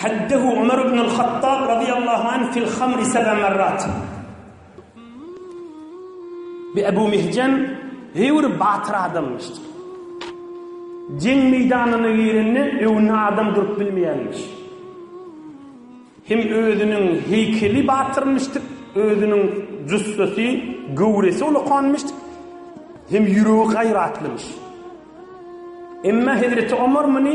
Haddehu Umar ibn al-Hattab radyýallahu anh fil hamri sebe merrat. Bi Ebu Mihjan hewr batyr adamyşdyr. Jeň meýdanyna girende öňünde adam durup bilmeýärmiş. Hem özüniň heýkeli batyrmyşdyr, özüniň jüssesi, göwresi ulukanmyşdyr. Hem ýüregi gaýratlymyş. Emma Hezreti Umar muny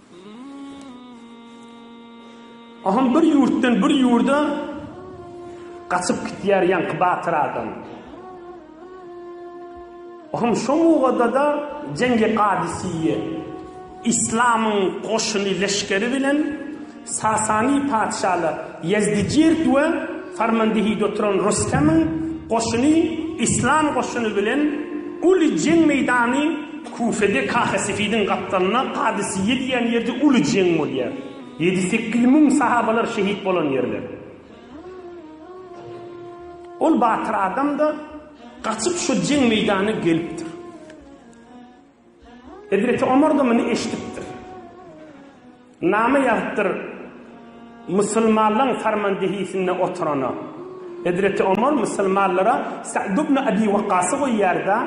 Ahun bir ýurtdan bir ýurda gaçyp gitýär ýaňky batyr adam. Ahun şo mugada-da Jengi Gadysiýe yslamyň goşuny leşgeri bilen Sasany patyşaly Ýezdijird we Farmandihide oturan Rostemyň goşuny yslam goşuny bilen uly jeň meýdany Küfede Kahesefidin gapdalynda Kadysiýe diýen ýerde uly jeň bolýar. Ýedi-sekiz müň sahabalar şehit bolan ýerler. Ol batyr adam-da gaçyp şo jeň meýdanyna gelipdir. Hezreti Omar-da muny eşidipdir. Name ýazypdyr Musulmanlaň farmandehisinde oturana. Hezreti Omar musulmanlara Sa'd ibn Abi Waqqasy goýýarda,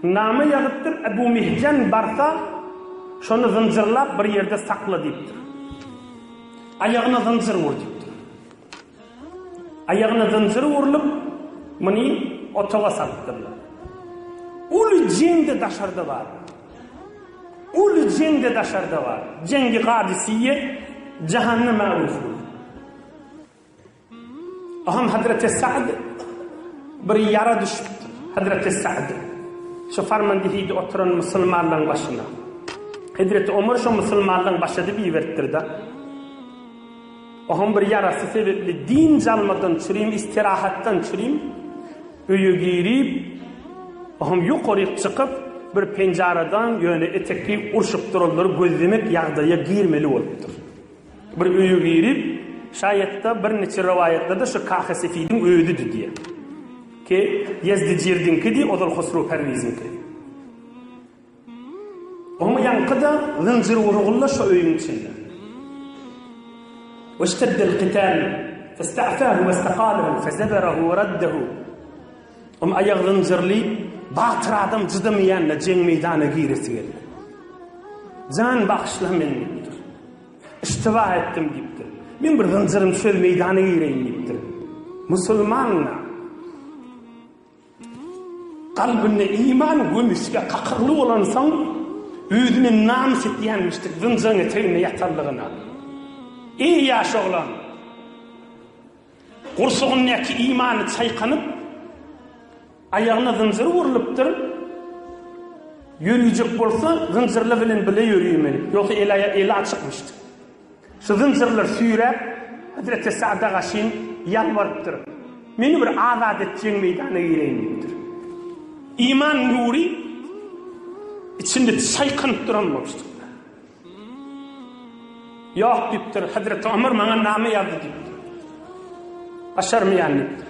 name ýazypdyr Ebu Mihjan barsa, şony zynjyrlap bir ýerde sakla diýipdir. Aýagyna zynjyr ur diýipdir. Aýagyna zynjyr urlup, muny otaga salypdyrlar. Uly jeň-de daşarda bar. Uly jeň-de daşarda bar. Jeňgi Gadysyýe jahanyna mäguz boldy. Aham Hazreti Sa'd bir ýara düşüpdir. Hazreti Sa'd şu farmandihiýde oturan musulmanlaryň başyna. Hazreti Omar şu musulmanlaryň başydy biberipdir-de. Ohuň bir ýarasy sebepli dynç almadan çürim, istirahatdan çürim öýe girip, ohuň ýokaryk çykyp, bir penjaradan ýöne etekli urşup duranlary gözlemek ýagdaýa girmeli bolupdyr. Bir öýe girip, şaýat-da bir niçe rowaýatlarda şu Kahy Sefidiň özüdi diýer. Ki, Ýezdijirdiňkidi, ozal Hosrow Perwiziňki. Oň ýaňky-da zynjyr urguly-la şo öýüň içinde. Weşteddel kitän festa'fahu westaqalahu fezeberahu weraddahu Oň aýagy zynjyrly batyr adam cydamaýan-da jeň meýdana giresi geldi. Jan bagyşla meni diýipdir. Iştiba etdim diýipdir. Men bir zynjyrym söz meýdana gireýin diýipdir. Musulman-la. Kalbynda iman gömüsge kakylgy bolansoň, özüne namys etýänmişdek zynjyryň eteginde ýatanlygyna. Iň ýaş oglan gursagyndaky imany çaýkanyp, aýagyna zynjyr urlupdyr, ýörüjek bolsa zynjyrly bilen bile ýörüýmeli, ýogsa eli açykmyşdy. Syzym-syrylar süýräp, hezreti Sada gaşyn ýalbarypdyr. Meni bir azat etjegiň meýdana gireýin diýipdir. Iman nury içinde çaýkanyp duran bolupdyr. Ýok diýipdir, hezreti Omar maňa name ýazdy diýipdir. Başarmaýan diýipdir.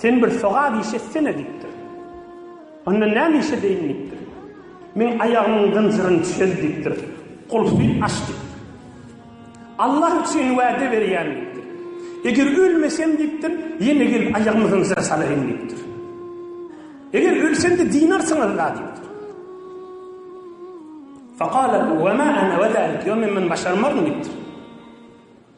Sen bir sogap iş etsene diýipdir. Onda näme iş edeýin diýipdir. Meň aýagymyň zynjyryny çöz diýipdir. Gulpy aç diýipdir. Allah üçin wäde berýän diýipdir. Eger ölmesem diýipdir, ýene gelip aýagymy zynjyra salaýyn diýipdir. Eger ölsem-de dinarsyňyz-la diýipdir. Fakala we ma ana we zalik. Ýok men muny başarmaryn diýipdir.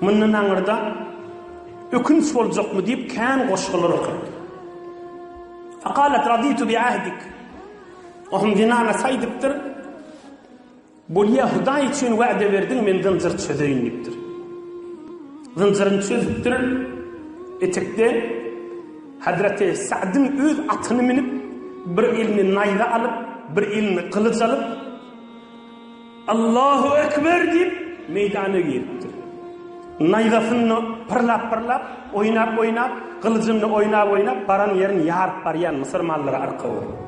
Mundan aňyrda ökünç boljakmy diýip kän goşgular okady. Fakalet raditu bi ahdik. Ohum dinana saýdypdyr. Bolýa Hudaý üçin wa'de berdiň men zynjyr çözeýin diýipdir. Zynjyryny çözüpdir. Etekde Hazreti Sa'dyň öz atyny minip bir elini naýza alyp, bir elini gylyç alyp Allahu ekber diýip, meýdana giripdir. Naýzasyny pyrlap-pyrlap, oýnap-oýnap, gylyjyny oýnap-oýnap baran ýerini ýaryp barýan Müsür mallary arka bolup.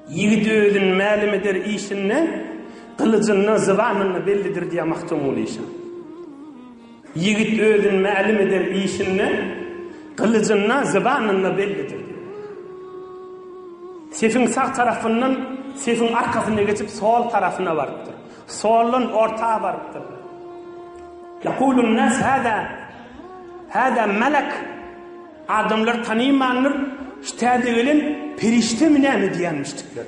Ýigit özüni mälim eder işinde, gylyjyndan, zybanyna bellidir diýýär Magtymguly şa. Ýigit özüni mälim eden işinde gylyjynda, zybanynda bellidir. Sefiň sag tarapyndan sefiň arkasyna geçip sol tarapyna barypdyr. Soldan orta barypdyr. Ýakulun nas hada hada melek adamlar tanymandyr şu täze gelen perişdemi näme diýenmişdikler.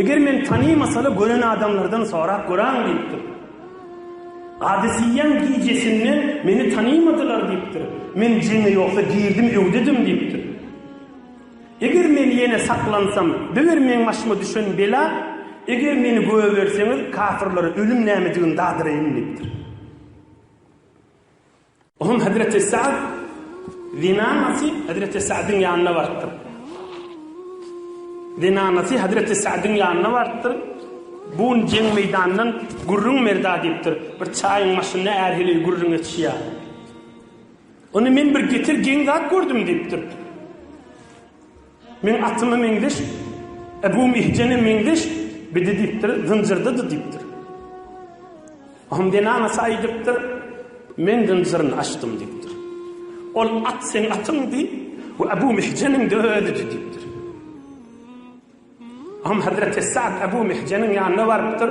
Eger men tanymasala gören adamlardan sorap göräň diýipdir. Gadysyýýäň gijesinde meni tanymadylar diýipdir. Men jeňe ýogsa girdim öwdedim diýipdir. Eger men ýene saklansam, biber meň başyma düşen bela, eger meni göberseňiz kafirlere ölüm nämedigini dadyraýyn diýipdir. Onuň hezreti Sa'd zinanasy hezreti Sa'dyň ýanyna barypdyr. Zinanasy hezreti Sa'dyň ýanyna barypdyr. Bu gün jeň meýdanyndan gürrüň merda diýipdir. Bir çaýyň maşynyna ärhili gürrüň etişýär. Ony men bir getir geň zat gördüm diýipdir. Men atyma meňzeş, Ebu Mihjene meňzeş, bidi diýipdir, zynjyrdydy diýipdir. Ahmdena Nasa aýdypdyr, Men zynjyryn açdym diýipdir. Ol at seň atyňdy we Ebu Mihjeniň de özüdi diýipdir. Ahmdena Nasa Ebu Mihjeniň ýanyna barypdyr.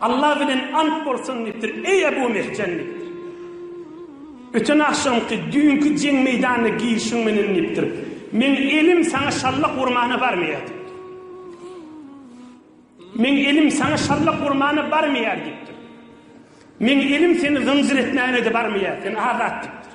Allah bilen ant bolsun diýipdir, eý Ebu Mehjen diýipdir. Öten agşamky, düýnki jeň meýdanyna girişiň menen diýipdir. Meň elim saňa şallak urmana barmaýar diýipdir. Meň elim saňa şallak urmana barmaýar diýipdir. Meň elim seni zynjyr etmäne-de barmaýar, sen azat diýipdir.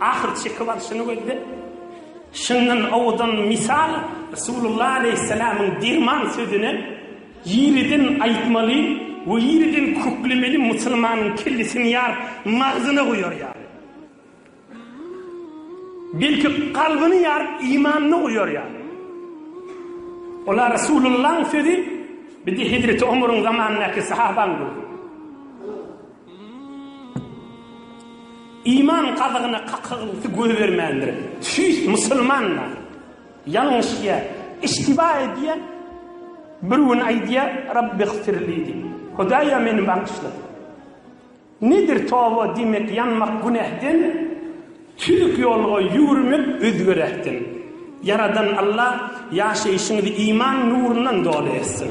Ahyr çekiw alşyny gözläp, şundan owadan mysal Resulullah aleýhissalamyň derman sözüni ýeriden aýtmaly we ýeriden köklemeli musulmanyň kellesini ýaryp magzyna goýar ýaly. Belki kalbyny ýaryp imanyny goýar ýaly. Ola Resulullahyň sözi bide hezreti Omaryň zamanyndaky sahabaň gözi. Iman gazygyna kakygynlysy goýbermändir. Tüýs musulmanlar ýalňyşýar, iştiba edýär. Bir gün aýdýar, Rabbigfirli diýip, Hudaýa meni bagyşla. Nedir toba diýmek ýanmak günähden, tüzük ýolga ýüwürmek özgeräkden. Ýaradan Allah ýaşaýşyňyzy iman nurundan doly etsin.